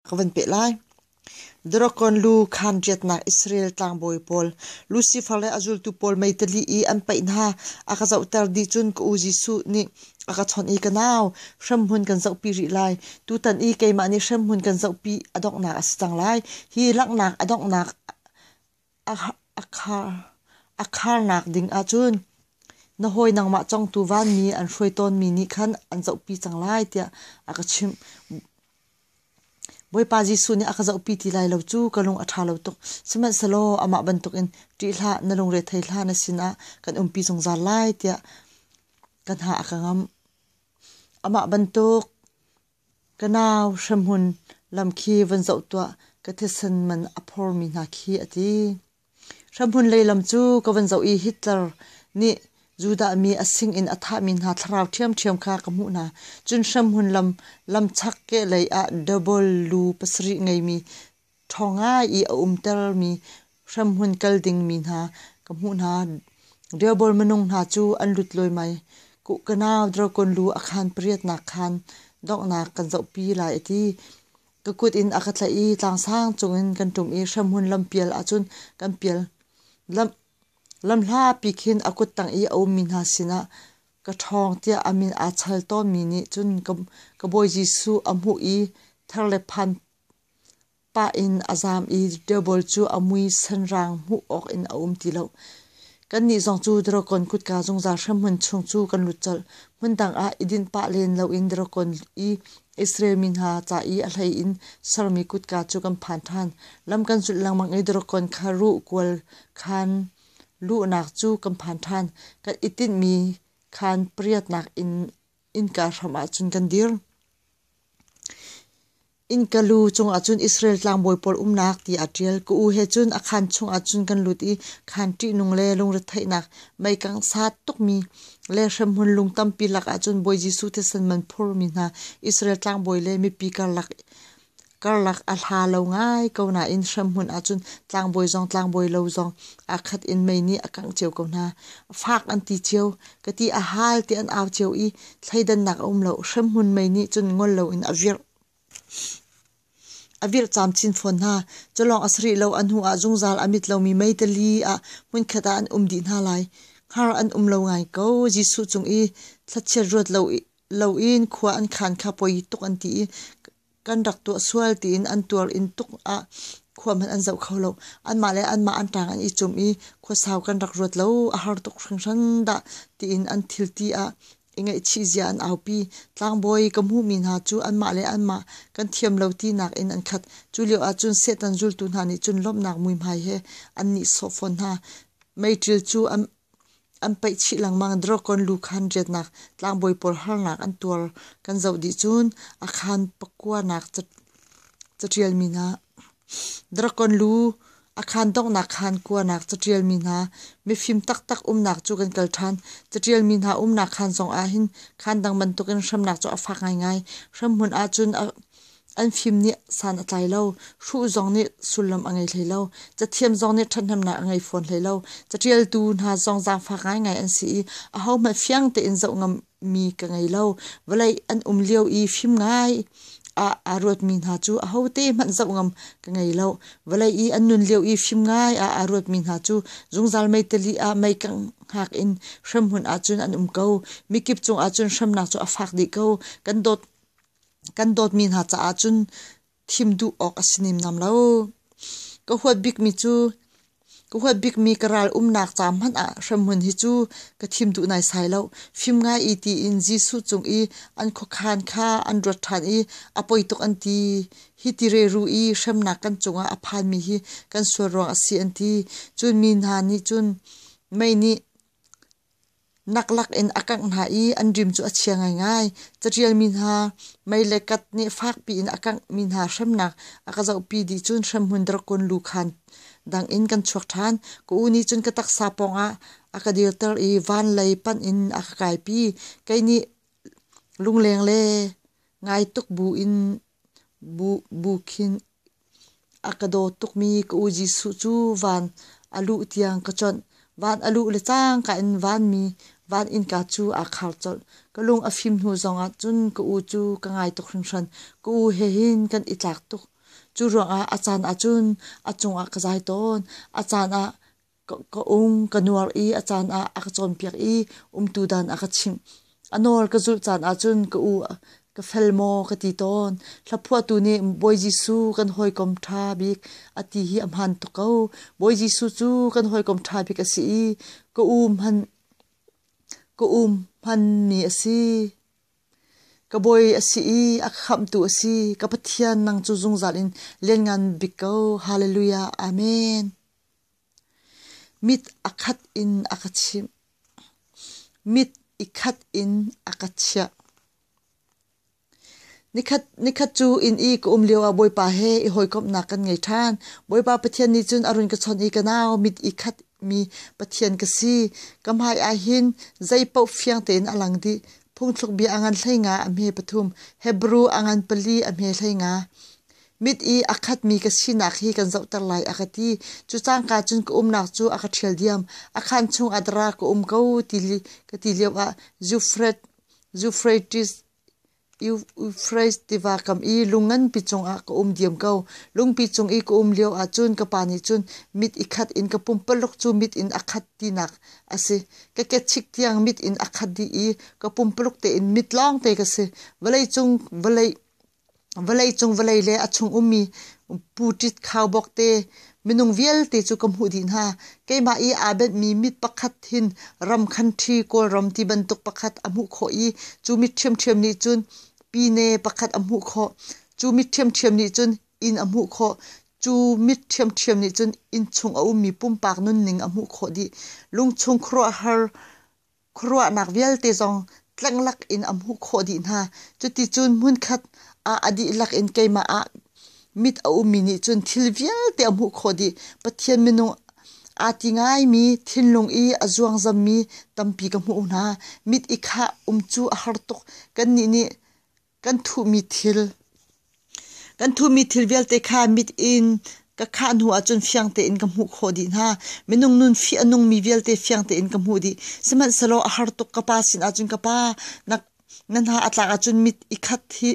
ka van peh lai. Dragon lu khaan ṭiatnak Israel tlangbawi pawl, Lucifer le a zultu pawl meitali i an paih hna, a ka zohter dih cun ka u Jesuh nih a ka chawnh i ka nau hremhmun kan zohpi rih lai. Tutan i keimah nih hremhmun kan zohpi a donghnak a si cang lai. Hi langhnak a donghnak A kharnak ding ahcun na hawi nangmah cong tu vanmi an hruai tawnmi nih khan an zohpi cang lai tiah a ka chimh. Bawipa Jesuh nih a ka zohpi ti lai lo cu ka lung a ṭha lo tuk. Sihmanhsehlaw amah bantukin ṭih hlah, na lungre thei hlah, na sinah kan umpi zungzal lai tiah ka hna a ka ngam. Amah bantuk Ka nau hrahmun lam khi van zoh tuah ka thisen man a phormi hna khi a ti. Hrahmun lei lam cu ka van zoh i Hitler nih Judah mi a sinin a thahmi hna thlarau ṭhiamṭhiam kha ka hmuh hna. Cun hrahmun lam lamchak kehlei ah double lu pasarih ngeimi ṭhawng ngai i a umtermi hremhmun kal dingmi hna ka hmuh hna. Rehoboam minung hna cu an lut luaimai. Kuhkanau dragon lu a khaan pariatnak khaan donghnak kan zohpi lai a ti. Ka kut in a ka tlaih i tlangsang cungin kan ṭum i hremhmun lampial ahcun kan pial. Lam, lamhlapi khin a kut tang i a ummi hna sinah ka ṭhawng tiah a min aa chal tawnmi nih cun ka, ka Bawi Jesuh a hmuh i ther le phan Pa in a zaam i tabal cu a mui sanrang hmuh awk in a um ti lo. Kannih zong cu Dragon kutka zungzal hremhmun chung cu kan lut colh. Hmun dang ah i din pah len loin Dragon i Israel mi hna ca i a hlei in sermi kutka cu kan phan ṭhan. Lam kan zulh lengmang i Dragon kha ruh kual khan luhnak cu kan phan ṭhan. Kan i tinhmi khan pariatnak in innka hram ah cun kan dir. Innka lu cungah cun Israel tlangbawi pawl umnak ti aa ṭial. Ka u he cun a khaan chungah cun kan lut i khaan ṭihnung le lungretheihnak meikang sa tukmi le hremhmun lung tampi lakah cun Bawi Jesuh thisen man phurmi hna Israel tlangbawi le mipi karlak karlak a hla lo ngai ko nain hremhmun ah cun tlangbawi zong tlangbawi lo zong aa khat in mei nih a kangh cio ko hna. Fak an ti cio. Ka ti a hal ti an au cio i thleidannak a um lo. Hremhmun mei nih cun ngol loin a virh. A virh camchin fawn hna. Culawng a sarih lo a hnu ah zungzal a mit lomi meitali ah hmunkhat ah an um dih hna lai. Har an um lo ngai ko. Jesuh cung i thlachiat ruat lo in khua an khan kha poi tuk an ti i kan rak tuah sual tiin an tuar in tuk ah khua hmanh an zoh kho lo anmah le anmah an ṭang an i cum i khuasau kan rak ruat lo a har tuk hringhran dah tiin an thilti ah i ngaihchih zia an aupi tlangbawi ka hmuhmi hna cu anmah le anmah kan thiam lo ti nak in an khat cu lio ah cun setan zultu hna nih cun lawmhnak muihmai he an nih sawh fawn hna meiṭil cu An paih chih lengmang. Drawcon lu khan riatnak tlangbawi pawl harnak an tuar. Kan zoh dih cun a khan pakuanak caṭialmi hna, drawcon lu a khan donghnak khan kuanak caṭialmi hna, mifim taktak umnak cu kan kal ṭhan. Caṭialmi hna umnak khan zongah hin khan dang bantukin hramnak cu a fak ngaingai. Hramhmun ahcun An fim nih san a tlai lo. Hru zong nih sullam a ngei hlei lo. Cathiam zong nih ṭhathnemnak a ngei fawn hlei lo. Caṭialtu hna zong zaangfak ngaingai an si i ahohmanh fiang tein zoh ngammi ka ngei lo. Vawlei an um lio i fim ngai ah aa ruatmi hna cu ahote hmanh zoh ngam ka ngei lo. Vawlei i an nun lio i fim ngai ah aa ruatmi hna cu zungzal meitali ah meikang hak in hremhmun ahcun an um ko. Mikip cungah cun hremnak cu a fak dih ko. Kan dawt kan dawtmi hna caah cun thim duh awk a si nemnam lo. Ka huat bikmi cu ka huat bikmi ka ral umnak ca hmanh ah hremhmun hi cu ka thim duh naisai lo. Fim ngai i tiin Jesuh cung i an khuakhan kha an ruat ṭhan i a poi tuk an ti. Hi ti reru i hremnak kan cungah a phanmi hi kan sual ruang a si an ti. Cun mi hna nih cun mei nih nak lakin a kangh hna i an rim cu a chia ngaingai. Catialmi hna mei le kat nih fakpi in a kanghmi hna hremnak a ka zohpi dih cun hremhmun drakon lu khan dangin kan chuak ṭhan. Ka u nih cun ka taksa pawngah a ka dirter i van lei panh in a ka kaipi. Kei nih lungleng le ngai tuk bu in Bu khin a ka daw tukmi ka u Jesuh cu van a luh tiang ka chonh. Van a luh le cang ka in vanmi van innka cu aa khar colh. Ka lung a fim hnu zongah cun ka u cu ka ngai tuk hringhran. Ka u he hin kan i tlak tuk. Cu ruangah a caan ahcun a cungah ka zai tawn. A caan ah Ka um ka nuar i a caan ah a ka cawnpiak i umtu dan a ka chimh. A nawl ka zulh caan ahcun ka u ka fel maw ka ti tawn. Hlaphuahtu nih Bawi Jesuh kan hawikom ṭha bik a ti hi a hmaan tuk ko. Bawi Jesuh cu kan hawikom ṭha bik a si i ka u hman ka u hmanmi a si. Ka bawi a si i a khamhtu a si. Ka Pathian nang cu zungzal in lianngan bik ko. Hallelujah. Amen. Mit a khat in a ka chimh. Mit i khat in a ka chiah. Nikhat, nikhat cu inn i ka um lio ah Bawipa he i hawikomhnak kan ngei ṭhan. Bawipa Pathian nih cun a run ka chawnh i ka nau mit i khat mi Pathian ka si. Ka hmai ah hin zei paoh fiang tein a lang dih. Phungthluk bia a ngan hleinga a hme pathum. Hebrew a ngan pali a hme hleinga. mit i a khatmi ka sinak hi kan zohter lai a ka ti. Cu cangka cun ka umnak cu a ka ṭhial diam. A khan chung ah dara ka um ko ti ka ti lio ah Zufret, Zufretis, Eufrates tiva kam i lung nganpi cung ah ka um diam ko. Lungpi cung i ka um lio ah cun ka pa nih cun mit i khat in ka pumpaluk cu mit in a khat tinak a si. Ka kechik tiang mit in a khat dih i ka pumpaluk tein mit lawng te ka si. Vawlei cung, vawlei Vawleicung vawlei le a chung ummi puṭit khaubawk te minung vialte cu ka hmuh dih hna. Keimah i aa benhmi mit pakhat hin ram khanṭhi Kawlram ti bantuk pakhat a hmuh khawh i cu mit ṭhiamṭhiam nih cun pine pakhat a hmuh khawh. Cu mit ṭhiamṭhiam nih cun inn a hmuh khawh. Cu mit ṭhiamṭhiam nih cun inn chung a ummi pumpak nunning a hmuh khawh dih. Lungchung khuaruahhar Khuaruahnak vialte zong tlenglak in a hmuh khawh dih hna. Cuticun hmunkhat ah a dihlak in keimah ah mit a ummi nih cun thil vialte a hmuh khawh dih. Pathian minung aa ti ngaimi, thinlung i a zuangzammi tampi ka hmuh hna. Mit i khah um cu a har tuk. Kannih nih kan thuhmi thil kan thuhmi thil vialte kha mit in ka khah hnu ahcun fiang tein ka hmuh khawh dih hna minung nun fi a nungmi vialte fiang tein ka hmuh dih sihmanhsehlaw a har tuk ka pa sin ahcun ka pa na na hna a tlak ahcun mit i khat hi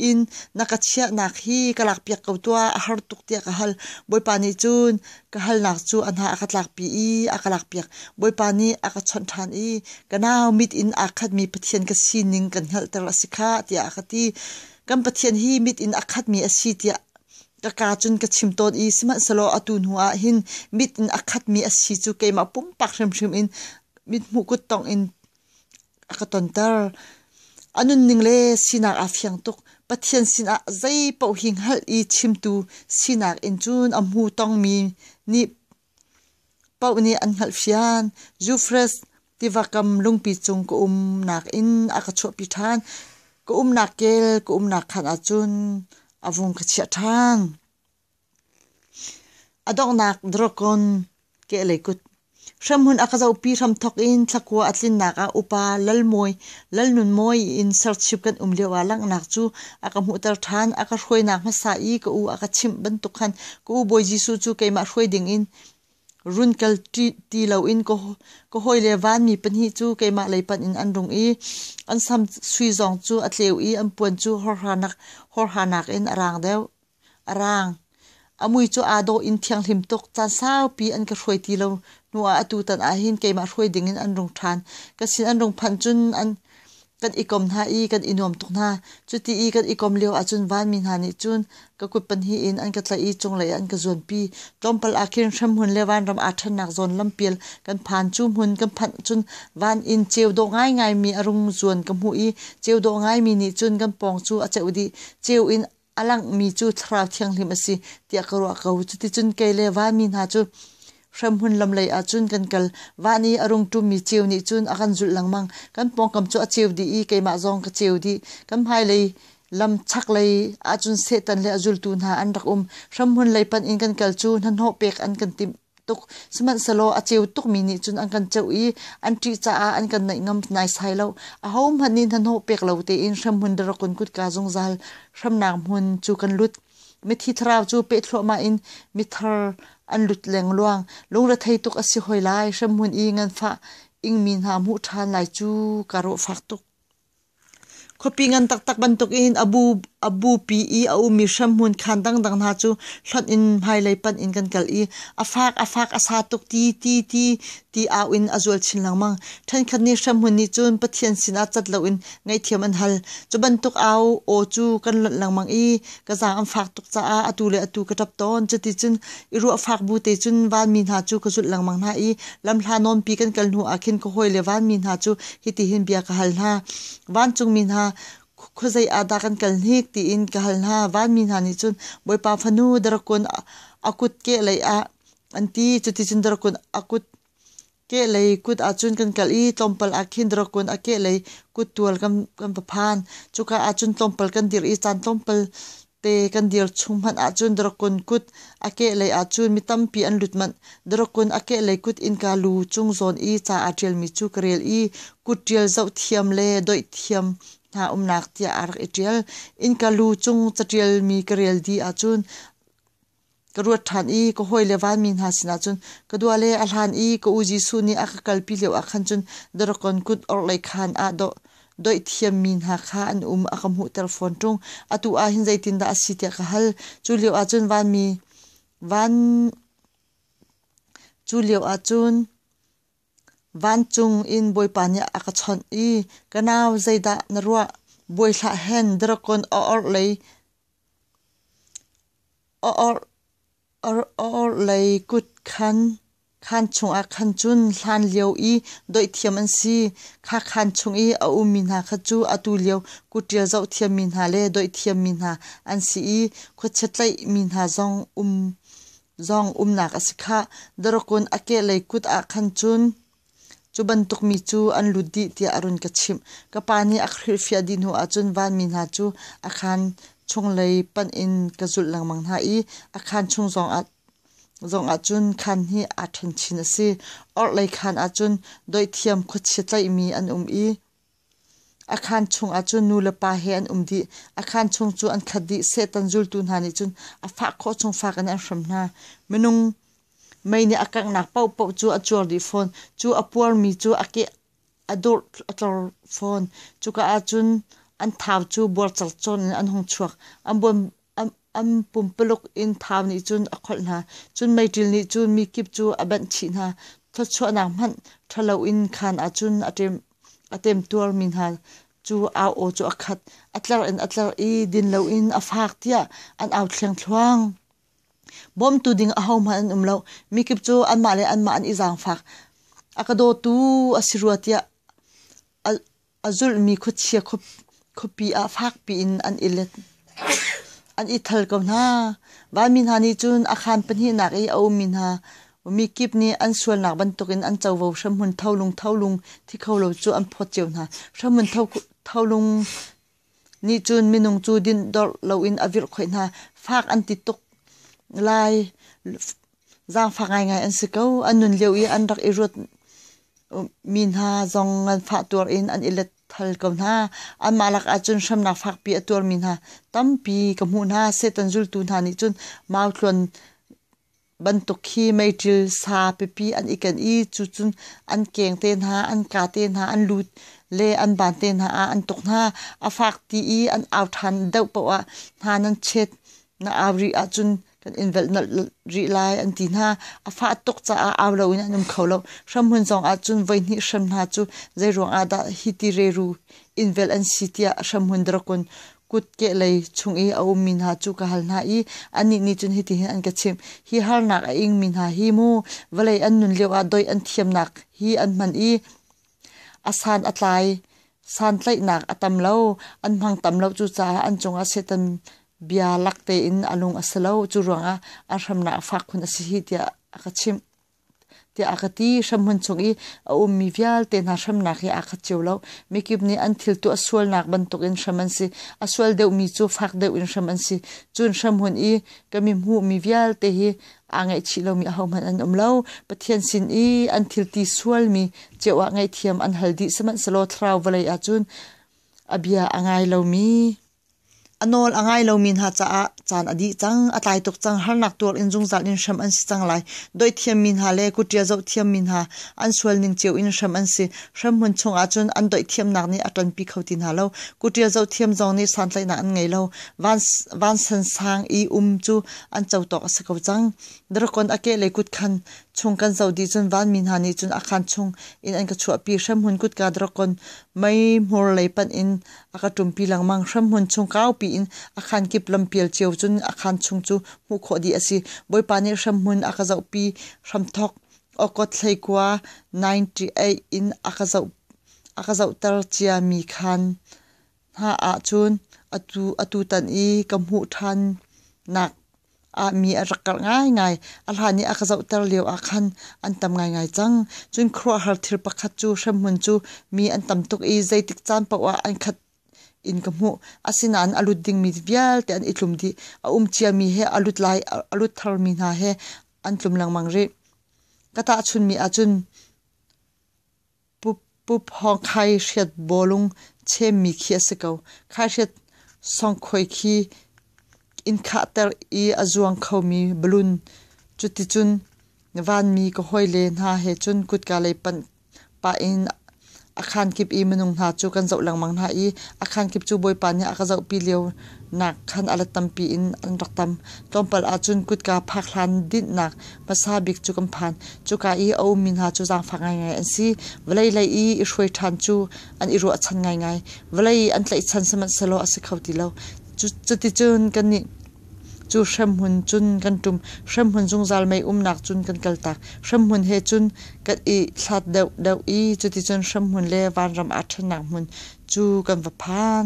in na ka chiahnak hi ka lakpiak ko tuah a har tuk tiah ka hal bawipa nih cun Ka halnak cu a hna a ka tlakpi i a ka lakpiak. Bawipa nih a ka chawnh ṭhan i ka nau mit in aa khatmi Pathian ka sining kan hngalhter a si kha tiah a ka ti. Kan Pathian hi mit in a khatmi a si tiah ka kaa cun ka chim tawn i sihmanhsehlaw atu hnu ah hin mit in a khatmi a si cu keimah pumpak hrimhrim in mithmuh kut tongh in a ka tonter. A nunning le sinak aa fiang tuk. Pathian sinah zei paoh hi hngalh i chimtu sinak in cun a hmu tongmi nih paoh nih an hngalhfian. Zufres tiva kam lungpi cung ka um nakin a ka chuahpi ṭhan. Ka umnak kel ka umnak khan ahcun a vung ka chiah ṭhan. A donghnak Dragon kehlei kut. Hremhmun a ka zohpi hram thawk in thlakua a tlinnak ah upa Lalmawi, Lalnunmawi in serchip kan um lio ah langhnak cu a ka hmuhter ṭhan. A ka hruainak hmasa i ka u a ka chimh bantuk khan ka u Bawi Jesuh cu keimah hruai ding in run kal ti loin ka hawile vanmi pahnih cu keimah lei panh in an rung i an sam sui zong cu a tleu i an puan cu hawrhanak in a raang deuh. a raang. A mui cu aa dawh in thianghlim tuk. Caan saupi an ka hruai ti lo hnu ah atu tan ahhin keimah hruai ding in an rung ṭhan. Ka sin an rung phanh cun an kan i kom hna i kan i nuam tuk hna. Cuti i kan i kom lio ahcun vanmi hna nih cun ka kut pahnih in an ka tlaih i cunglei ah an ka zuanpi. Tlawmpal ahkhin hremhmun le vanram aa ṭhennak zawn lampial kan phan. Cu hmun kan phanh cun van in ceu dawh ngaingaimi a rung zuan ka hmuh i ceu dawh ngaimi nih cun kan pawng cu a ceuh dih. Ceu in a langhmi cu thlarau thianghlim a si tiah ka ruah ko cuticun kei le va mi hna cu hremhmun lam lei ah cun kan kal va nih a rung ṭummi ceu nih cun a kan zulh lengmang kan pawngkam cu a ceu dih i keimah zong ka ceu dih kan hmailei lam chaklei ahcun Satan le a zultu hna an rak um hremhmun lei panh in kan kal cu hnahnawh pek an kan timh tuk. Sihmanhsehlaw a ceu tukmi nih cun an kan ceuh i an ṭih caah an kan naih ngam naisai lo. Ahohmanh nih hnahnawh pek lo tein hremhmun darakun kutka zungzal hremnak hmun cu kan lut. Mithi thlarau cu peh thluahmah in mithar an lut lengluang. Lungrethei tuk a si hoi lai. Hremhmun i nganfah ingmi hna hmuh ṭhan lai cu ka rawh fak tuk. Khuapi ngan taktak bantukin a bu, a bupi i a ummi hremhmun khaan dangdang hna cu hlonh in hmailei panh in kan kal i a faak a faak a sa tuk ti ti ti ti au in a zual chin lengmang. Ṭhenkhat nih hremhmun nih cun Pathian sinah cat loin ngaihthiam an hal. Cu bantuk au aw cu kan lonh lengmang i ka zaang an fak tuk caah atu le atu ka ṭap tawn. Cuticun i ruah fak bu te cun vanmi hna cu ka zulh lengmang hna i lamhla nawnpi kan kal hnu ah khin ka hawi le vanmi hna cu hitihin bia ka hal hna. Vancungmi hna khuazei ah dah kan kal hnik tiin ka hal hna. Vanmi hna nih cun Bawipa fanu darakkun a kut ke lei ah an ti. Cuticun darakkun a kut kehlei kut ahcun kan kalh i tlawmpal ah khin drakun a kehlei kuttual kan, kan va phan. Cuka ahcun tlawmpal kan dir i caan tlawmpal te kan dir chung hmanh ahcun drakun kut a kehlei ahcun mi tampi an lut manh. Drakun a kehlei kut innka lu chung zawn i ca aa ṭialmi cu ka rel i kut ṭial zoh thiam le doih thiam hna umnak tiah aa rak i ṭial. Innka lu chung caṭialmi ka rel dih ahcun ka ruat ṭhan i ka hawile vanmi hna sinah cun ka dua le a hlan i ka u Jesuh nih a ka kalpi lio ah khan cun Daragon kut orhlei khaan ah dawh doih thiammi hna kha an um a ka hmuhter fawn ṭung atu ah hin zeitindah a si tiah ka hal cu lio ah cun vanmi van cu lio ah cun Vancung in Bawipa nih a ka chawnh i ka nau zeidah na ruah? Bawi hlah hen drakon a orh lei a orh a orh lei kut khan khaan chungah khan cun hlan lio i doihthiam an si. Kha khaan chung i a ummi hna kha cu atu lio kutṭial zoh thiammi hna le doihthiammi hna an si i khuachia tlaihmi hna zong um Zong umnak a si khah. Darokun a kehlei kut ah khan cun cu bantuk mi cu an lut dih tiah a run ka chimh. Ka pa nih a hrilhfiah dih hnu ahcun vanmi hna cu a khaan chunglei panh in ka zulh lengmang hna i a khaan chung zongah zongah cun khaan hi aa ṭhenchin a si. Orhlei khaan ahcun doihthiam khuachia tlaihmi an um i A khaan chungah cun nulepa he an um dih. A khaan chung cu an khat dih. Satan zultu hna nih cun a fah khawh chung fak in an hrem hna. Minung mei nih a kanghnak paohpaoh cu a cuar dih fawn. Cu a puarmi cu a ke a dur a tlor fawn. Cuka ah cun an thau cu buarcalcawn in an hung chuak. An buan an pumpaluk in thau nih cun a kholh hna. Cun meiṭil nih cun mikip cu a banh chih hna. Thawchuahnak hmanh ṭhalo in khan ah cun a temtuarmi hna cu au aw cu a khat. A tlar in a tlar i din loin a fak tiah an au thluangthluang. Bawmtu ding ahohmanh an um lo. Mikip cu anmah le anmah an i zaangfak. A ka dawtu a si rua tiah a zulhmi khuachia khuapi ah fakpi in an i let. an i thal ko hna. Vanmi hna nih cun a khaan pahnihnak i a ummi hna mi kip nih an sualnak bantukin an covo hramhmun tholung tholung thi kho lo cu an phawt cio hna. Hramhmun tholung Nih cun minung cu din dorh loin a virhkhawih hna. Fak an ti tuk lai. Zaangfak ngaingai an si ko. An nun lio i an rak i ruat mi hna zong ngan fah tuar in an i let thal ko hna. Anmah lakah cun hremnak fakpi a tuar mi hna tampi ka hmuh hna. Satan zultu hna nih cun mautluan bantuk khi meiṭil sa pipi an i ken i cucun an keng te hna, an ka te hna, an lut le an ban te hna ah an tuk hna. A fak ti i an au ṭhan deuh paoh ah hna nan chet na au rih ahcun kan in velh nolh rih lai an ti hna. A fah tuk caah au loin an um kho lo. Hramhmun zong ahcun voihnih hrem hna cu zeiruang ah dah hi ti reru in velh an si tiah hramhmun drakon kutke lei chung i a ummi hna cu ka hal hna i anih nih cun hitihin an ka chimh hi harnak a ingmi hna hi mu vawlei an nun lioah doih an thiamnak hi an hman i a san a tlai santlaihnak a tam lo an hmang tam lo cucaah an cungah Satan bia lak tein a lung a si lo cu ruangah a hramnak a fak khun a si hi tiah a ka chimh tiah a ka ti hramhmun chung i a ummi vialte hna hramnak hi aa khat cio lo mikip nih an thil tu a sualnak bantuk in hram an si a sual deuhmi cu fak deuh in hram an si cun hramhmun i kan i hmuhmi vialte hi aa ngaihchih lomi ahohmanh an um lo pathian sin i an thilti sualmi ceu ah ngaihthiam an hal dih sihmanhsehlaw thlarau vawlei ahcun a bia a ngai lomi A nawl a ngai lomi hna caah caan a dih cang. A tlai tuk cang. Harnak tuar in zungzal in hrem an si cang lai. Doihthiammi hna le kutṭia zohthiammi hna an sualning cio in hrem an si. Hremhmun chung ahcun an doihthiamnak nih a ṭanpi kho ti hna lo. Kutṭia zohthiam zong nih santlaihnak an ngei lo. Vansan sang i um cu an cotawk a si ko cang. Drakon a keh le kutkhan chung kan zoh dih cun vanmi hna nih cun a khan chung in an ka chuahpi. Hremhmun kutka drakon mei hmur lei panh in A ka ṭumpi lengmang. Hremhmun chung kaupi in a khan kip lampial cio cun a khan chung cu hmuh khawh dih a si. Bawipa nih hremhmun a ka zohpi. Hramthawk awkawt hleikua 98 in a ka zoh a ka zohter ciami khan hna ah cun atu atu tan i ka hmuh ṭhannak ah mi a rak karh ngaingai. A hlan i a ka zohter lio ah khan an tam ngaingai cang. Cun khuaruahhar thil pakhat cu hremhmun cu mi an tam tuk i zeitik caan paoh ah an khat in ka hmuh. Asinain a lut dingmi vialte an i tlum dih. A um ciami he a lut lai a lut tharmi hna he an tlum lengmang rih. Ka tahchunhmi ahcun Pup hawng khaihriat bawlung chemmi khi a si ko. Khaihriat sawngkhoi khi in khahter i a zuang khomi balloon. Cuticun vanmi ka hawile hna he cun kutka lei panh pah in a khaan kip i minung hna cu kan zoh lengmang hna i a khaan kip cu Bawipa nih a ka zohpi lio nak khan a la tampi in an rak tam. Tlawmpal ahcun kutka phak hlan dinhnak Hmasa bik cu kan phan. Cuka i a ummi hna cu zaangfak ngaingai an si. Vawlei lei i i hruai ṭhan cu an i ruahchan ngaingai. Vawlei i an tlaihchan sihmanhsehlaw a si kho ti lo. Cuticun kannih cu hremhmun cun kan ṭum, hremhmun zungzal mei umnak cun kan kaltak. Hremhmun he cun kan i hlat deuhdeuh i cuticun hremhmun le vanram aa ṭhennak hmun cu kan va phan.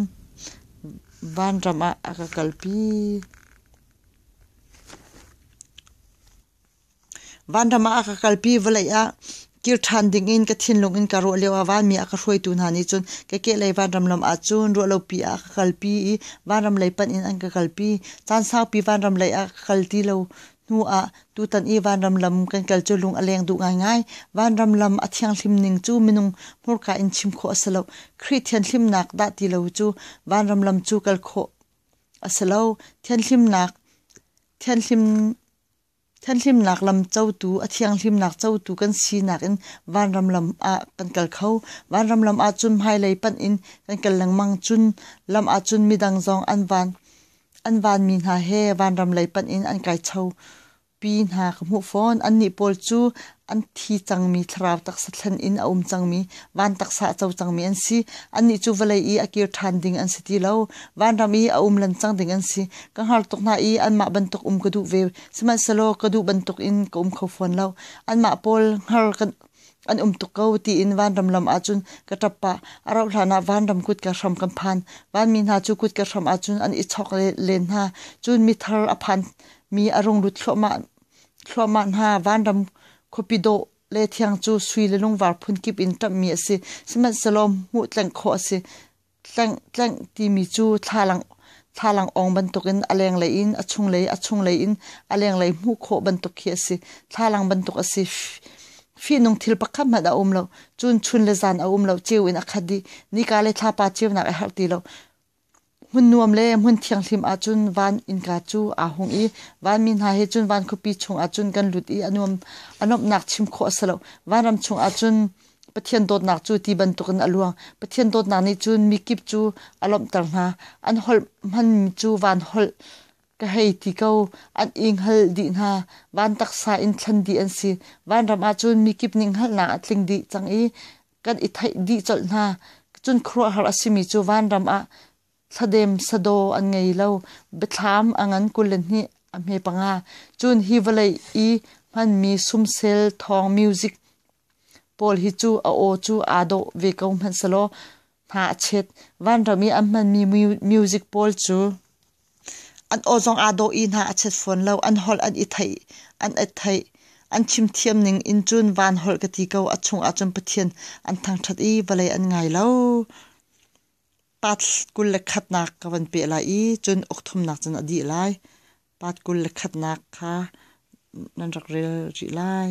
Vanram ah a ka kalpi. Vanram ah a ka kalpi vawlei ah kir ṭhan ding in ka thinlung in ka ruah lio ah vanmi a ka hruaitu hna nih cun ka kehlei vanram lam ah cun ruahlopi ah a ka kalpi i vanram lei panh in an ka kalpi. Caan saupi vanram lei ah ka kal ti lo hnu ah tutan i vanram lam kan kal cu lung a leng duh ngaingai. Vanram lam a thianghlim ning cu minung hmurka in chim khawh a si lo. Khrih thianhlimnak dah ti lo cu vanram lam cu kal khawh. a si lo. Thianhlimnak lam cotu, a thianghlimnak cotu kan sinak in vanram lam ah kan kal kho. Vanram lam ahcun hmailei panh in kan kal lengmang cun lam ahcun midang zong an van mi hna he vanram lei panh in an kai cho. Pi hna ka hmuh fawn. Annih pawl cu an thi cangmi thlarau taksa thlen in a um cangmi, van taksa a co cangmi an si. Annih cu vawlei i a kir ṭhan ding an si ti lo. Vanram i a um lancang ding an si. Ka hngar tuk hna i anmah bantuk um ka duh ve. Sihmanhsehlaw ka duh bantuk in ka um kho fawn lo. Anmah pawl hngar kan an um tuk ko tiin vanram lam ahcun ka ṭap pah. A rauh hlan ah vanram kut ka hram kan phan. Vanmi hna cu kut ka hram ahcun an i chawk len hna. Cun mithar a phan Mi a rung lut thluahmah hna. Vanram khuapi dawh le thiang cu sui le lungvar phun kip in ṭamhmi a si. Sihmanhsehlaw hmuh tlengh khawh a si. Tlengh, tlengh timi cu thlalang awng bantukin a lenglei in a chunglei, a chunglei in a lenglei hmuh khawh bantuk khi a si. Thlalang bantuk a si. Fihnung thil pakhat hmanh a um lo. Cun chun le zan a um lo. Ceu in a khat i nika le thlapa ceunak a herh ti lo. Hmun nuam le hmun thianghlim ahcun van innka cu aa hung i vanmi hna he cun van khuapi chungah cun kan lut i a nuam a nuamhnak chim khawh a si lo. Vanram chungah cun Pathian dawtnak cu ti bantukin a luang. Pathian dawtnak nih cun mikip cu a lawmhter hna. An holh hmanmi cu van holh ka hei ti ko. An i hngal dih hna. Van taksa in thlen dih an si. Vanram ahcun mikip nih hngalhnak a tling dih cang i kan i theih dih colh hna. Cun khuaruahhar a simi cu vanram ah thladem sadaw an ngei lo. Biathlam a ngan kul le hnih a hme panga. Cun hi vawlei i hmanmi sumsel thawng music pawl hi cu a aw cu aa dawh ve ko hmanhselaw hna a chet. Vanram i an hmanmi music pawl cu An aw zong aa dawh i hna a chet fawn lo. An holh an i theih, an et theih. An chimthiam ning in cun van holh ka ti ko. A chungah cun Pathian an thangṭhat i vawlei an ngai lo. Pat kul le khatnak ka van peh lai i cun ukthumnak cun a dih lai. Pat kul le khatnak kha nan rak rel rih lai.